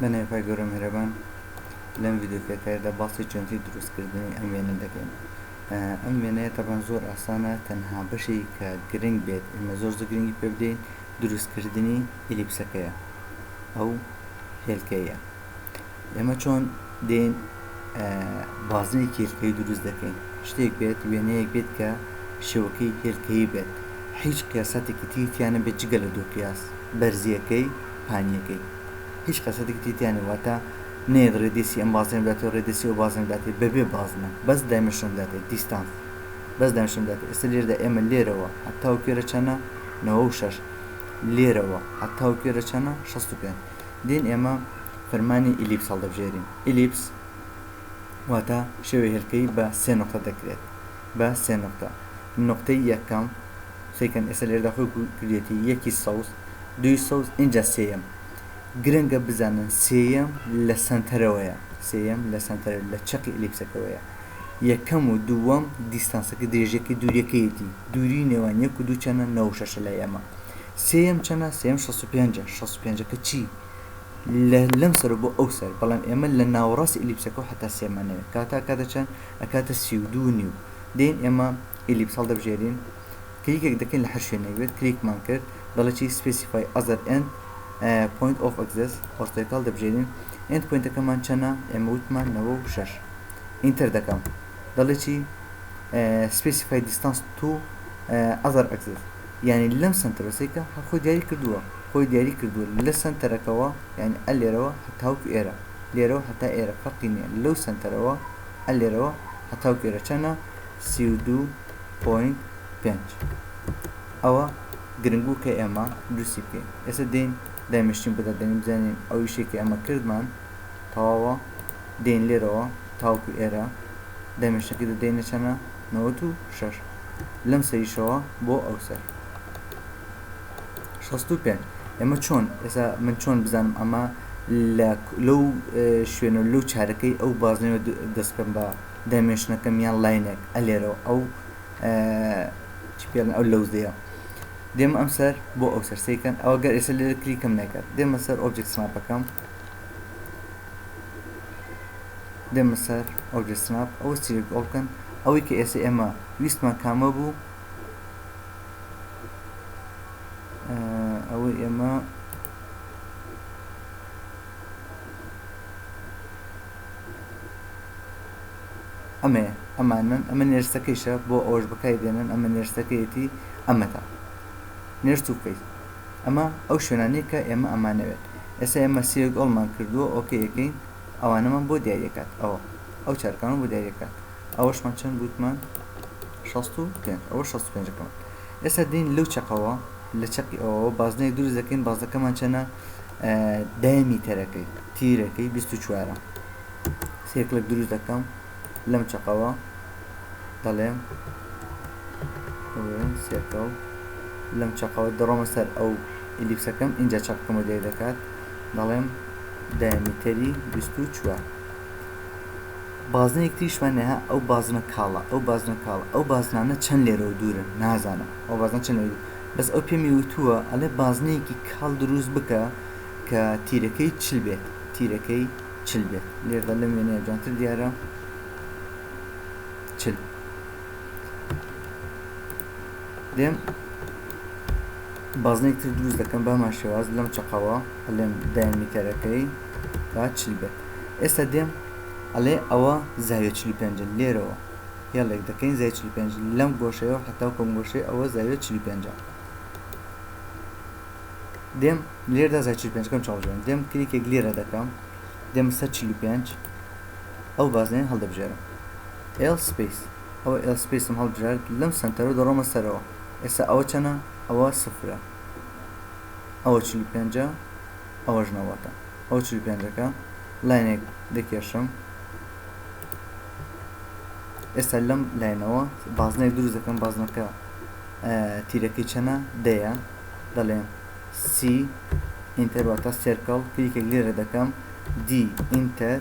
بەناوی خوای گەورە میهرەبان لەم ڤیدیۆ پێکایدا باسی چۆنتی دروستکردنی ئەم وێنە دەکەین ئەم وێنەیە تەبان زۆر ئاسانە تەنها بەشی کە گرنگ بێت ئمە زۆر زە گرنگی پێ بدەین دروستکردنی ئلیپسەکەیە ئەو هێلکەیە ئێمە چۆن دێن بازنەی کێلکەی دروست دەکەین شتێک بێت وێنەیەک بێت کە شێوەکەی کێلکەی بێت هیچ قیاساتێکی تیتیانە بێت جگە لە دوو قیاس بەرزیەکەی پانیەکەی هیچ قەسەتێکی تیتیانە واتە نێت ڕێدیسی ئەم بازنە بدات و ڕێدیسی و بازنە بدات بەبێ بازنە بەس دایمەشن بدات دیستانس بەس دایمەشن بدات ئێستا لێردا ئێمە لێرەوە هەتا و کێرە چەنە 96 لێرەوە هەتا و کێرە چەنە 65 دین ئێمە فەرمانی ئیلیپس هەڵدەبژێرین، ئیلیپس واتە شێوەی هێلکەی بە سێ نوقتە دەکرێت بە سێ نوقتە نوقتەی یەکەم سەیکەن ئێستا لێردا خۆی کردێتی یەکی سەوز دوی سەوز ئینجا سێیەم گرنگە بزانن سێیەم لە سەنتەرەوەیە سێیەم لە سەنتەر لە چەقی ئەلیپسەکەوەیە یەکەم و دووەم دیستانسەکە درێژەکەی دووریەکەیەتی دووری نێوان یەک و دوو چەنە نەوشەشە لای ئەمە سێیەم چەنە سێیەم شەست و پێنجە شەست و پێنجەکە چی لە لەم سەرو بۆ ئەو سەر بەڵام ئێمە لە ناوەڕاست ئیلیپسەکەو هەتا سێمانەوێ کاتە ئەکاتە چەن ئەکاتە سی و دوو نیو دێین ئێمە ئیلیپس هەڵدەبژێرین کلیکێک دەکەین لە هەر شوێنێک بێت کلیکمان کرد دەڵێ چی سپێسیفای ئەزەر ئێند پۆینت ئۆف ئەکزێس ئۆرتۆیەکە هەڵدەبژێرین ئێند پۆینتەکەمان چەنە ئێمە وتمان نەوە و شەش ئینتەر دەکەم دەڵێ چی سپێسیفای دیستانس تو ئەزەر ئەکزێس یانی لەم سەنتەرە سەیکە هەر خۆی دیاری کردووە خۆی دیاری کردووە لە سەنتەرەکەوە یانی ئە لێرەوە هەتاوک ئێرە لێرەوە هەتا ئێرە فەرقی نیە لەو سەنتەرەوە ئە لێرەوە هەتاوک ئێرە چەنە سی و دوو پۆینت پێنج ئەوە گرنگ بوو کە ئێمە دروستی بکەین ئێستا دێین دایمشتین بەدا دێنین بزانین ئەو ئیشەی کە ئێمە کردمان تەواوە دێین لێرەوە تاوکو ئێرە دایمشتەکەی دەدەینە چەنە نەوەت و شەش لەم سەریشەوە بۆ ئەو سەر شەست و پێنج ئێمە چۆن ئێستا من چۆن بزانم ئەمە لەو شوێن و لەو چارەکەی ئەو بازنەوە دەست بکەم بە دایمێشنەکەم یان لاینێک ئەلێرەوە ئەو چ پێڵن ئەو لەوزەیە دێمە ئەم سەر بۆ ئەو سەرسەیکەن ئەوە گەر ئێستا لێرە کلیکەم نەکرد دێمە سەر ئۆبجێکت سناپەکەم دێمە سەر ئۆبجە سناپ ئەوە سیلێکت ئۆڵ بکەن ئەوەی کە ئێستا ئێمە ویستمان کامە بوو ئەوەی ئێمە ئەمەیە ئەمانن ئەمە نێرسەکەیشە بۆ ئەوەش بەکای دێنن ئەمە نێرسەکەیەتی ئەمەتا نێرس و فەیس ئەمە ئەو شوێنانەیە کە ئێمە ئەمانەوێت ئێستا ئێمە سێ گۆڵمان کردووە ئۆکەی ئەکەین ئەوانەمان بۆ دیاری ئەکات ئەوە ئەو چارەکانمان بۆ دیاری ئەکات ئەوەشمان چەند گوتمان شەست و پێنج ئەوە شەست و پێنجەکەمان ئێستا دێین لەو چەقەوە لە چەقی ئەوەوە بازنەیەک دروست دەکەین بازەکەمان چەنە دایمی تەرەکەی تیرەکەی بیست و چوارە سێکلک دروست دەکەم لەم چەقەوە دەڵێم سێکەڵ لەم چەقەوە دەڕۆمە سەر ئەو ئیلیپسەکەم اینجا چەقەکەم و دێک دەکات دەڵێم دایمیتەری 24 بازنەیەک تریشمان نەها ئەو بازنە کاڵە ئەو بازنە کاڵە ئەو بازنانە چەند لێرەوە دوورن نازانم ئەو بازن چەند لێ بەس ئەو پێمی وتووە ئەلێ بازنەیەکی کاڵ دروست بکە کە تیرەکەی چل بێت تیرەکەی چل بێت لێردا لەم وێنەیە جوانتر دیارە چل دێم بازنێک تر دروست دەکەم بەمان شێواز لەم چقەوە ئەلێم دایمیتەرەکەی با چل بێت ئێستا دێم ئەلێ ئەوە زاویە چلی پێنج لێرەوە هێڵێک دەکەین زای چلی پێنج لەم گۆشەیەوە حتاو کۆم گۆشەی ئەوە زاویە چلی پێنجە دێم لێردا زای چل پێنج کەم چاوژێن دێم کلیکێک لێرە دەکەم دێم سەر چل و پێنج ئەو بازنێن هەڵدەبژێرم ئێل سپیس ئەوە ئێل سپیسم هەڵبژارد لەم سنتەرە دەڕۆمە سەرەوە ئێستا ئەوە چەنە ئەوە سفرە ئەوە چل و پێنجە ئەوەش نەوەتە ئەو چل و پێنجەکە لاینێک دەکێشم ئێستا لەم لاینەوە بازنێک دروست دەکەم بازنەکە تیرەکەی چەنە؟ دەیە. دەڵێم سی ئینتەر واتە سێرکڵ کلیکێک لێ رێ دەکەم دی ئینتەر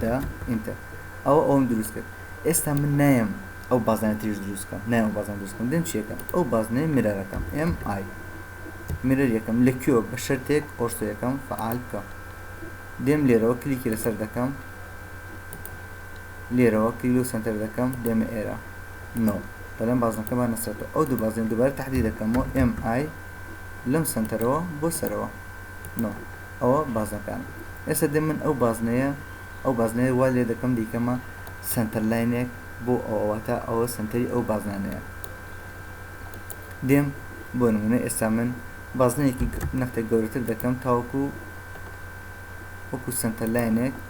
دە ئینتەر ئەوە ئەوەم دروست کرد ئێستا من نایم ئەو بازنە تریش دروست کەم نایم ئەو بازنە دروست کەم دێم چیەکەم ئەو بازنەی مرەرەکەم ئێم ئای مرەر یەکەم لە کوێ بە شەرتێک ئۆرسۆ یەکەم فعال بکەم دێم لێرەوە کلیکی لەسەر دەکەم لێرەوە کلیل و سنتەر دەکەم دێمە ئێرە نۆ بەلام بازنەکە بانە سەرەوە ئەو دوو بازنە دووبارە تەحدی دەکەمەوە ئێم ئای لەم سەنتەرەوە بۆ سەرەوە نۆ ئەوە بازنەکان ئێستا دێ من ئەو بازنەیە ئەو بازنەیە وا لێ دەکەم دیکەمە سەنتەر لاینێک بۆ ئەوەواتە ئەوە سنتەری ئەو بازنانەیە دێم بۆ نمونە ئێستا من بازنەیەکی نەختێک گەورەتر دەکەم تاوەکو وەکو سنتەر لاینێک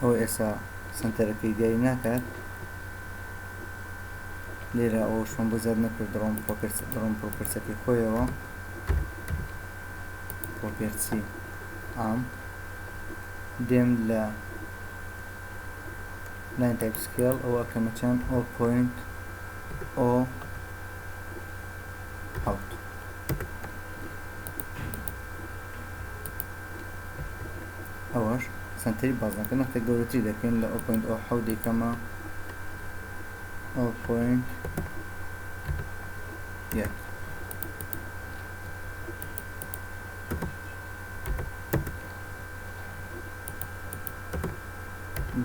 ئەوە ئێسا سەنتەرەکەی دیاری ناکات لێرە ئەوە شۆن بۆ زیاد نەکرد دڕۆم دڕۆم پڕۆپرسەکەی خۆیەوە پۆپێرچی ئام دێم لە لاین تایپ سکێڵ ئەوە ئەکەمە چەند ئۆ پوینت ئۆ حەوت ئەوەش سەنتەری بازنەکە نەختە گەورەتری دەکەین لە ئەو پۆینت ئەو حەودەی کەمە ئەو پۆینت یەک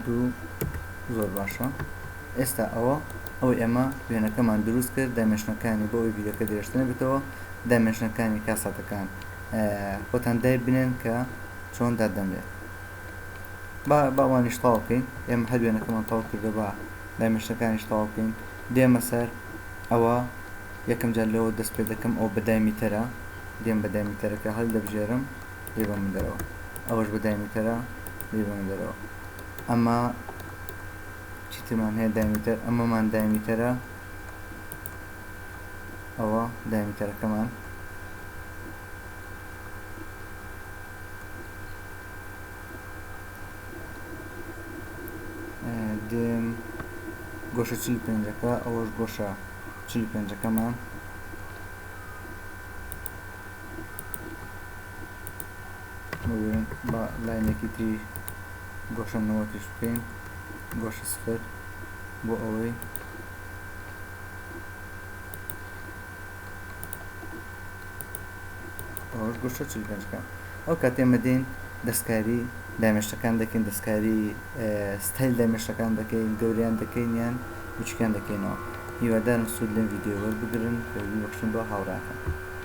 دوو زۆر باشە ئێستا ئەوە ئەو ئێمە وێنەکەمان دروست کرد دامێشنەکانی بۆ ئەوی ڤیدەکە درێژتنە بێتەوە دامێشنەکانی کاساتەکان خۆتان دای بنێن کە چۆن دادەنرێت با با ئەوانیش تەواو بکەین ئێمە هەر وێنەکەمان تەواو کردو با دایمەشتەکانیش تەواو بکەین دێمە سەر ئەوە یەکەم جار لەوە دەست پێ دەکەم ئەو بە دایمیتەرە دێم بە دایمیتەرەکە هەلدەبژێرم لێ بە من دەرەوە ئەوەش بە دایمیتەرە لێ بە من دەرەوە ئەمە چیترمان هەیە دایمیتەر ئەمەمان دایمیتەرە ئەوە دایمیتەرەکەمان دێم گۆشە چل پێنجەکە ئەوەش گۆشە چل پێنجەکەمان بە لاینێکی تری گۆشە نەوەتیش بکەین گۆشە سفر بۆ ئەوەی ئەو کاتێ ئێمە دێین دەستکاری دامێشتەکان دەکەین دەستکاری ستایل دامێشتەکان دەکەین گەوریان دەکەین یان بچکیان دەکەینەوە هیوادارم سود لەم یددیو وەربگرن بەخشن بۆ هاوراکەم.